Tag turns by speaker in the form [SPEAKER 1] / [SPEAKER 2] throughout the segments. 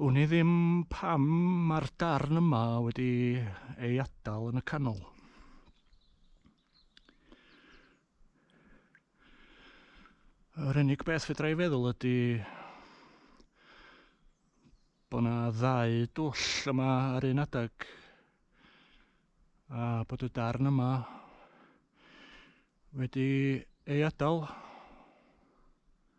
[SPEAKER 1] Wn i ddim pam mae'r darn yma wedi ei adal yn y canol. Yr unig beth fedra i feddwl ydy bod yna ddau dwll yma ar un adeg a bod y darn yma wedi ei adael.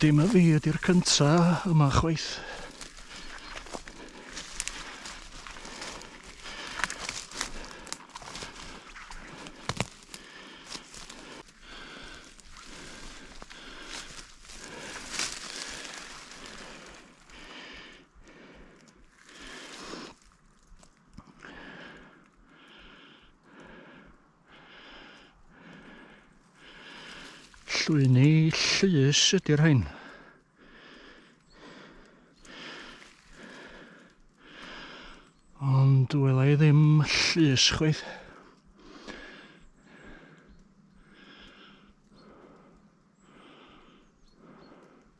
[SPEAKER 1] Dim y fi ydy'r cynta yma chwaith. Llwyni llys ydy'r rhain. Ond wela i ddim llys chweith.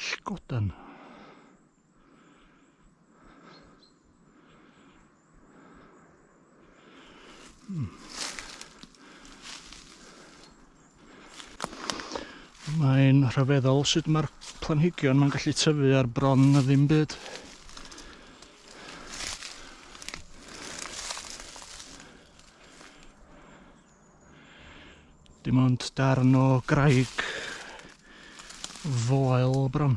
[SPEAKER 1] Sgodan. Hmm. Mae'n rhyfeddol sut mae'r planhigion mae'n gallu tyfu ar bron na ddim byd. Dim ond darn o graig foel bron.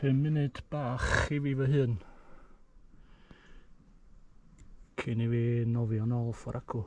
[SPEAKER 1] 5 munud bach i fi fy hun. Cyn i fi nofio nôl ffordd acw.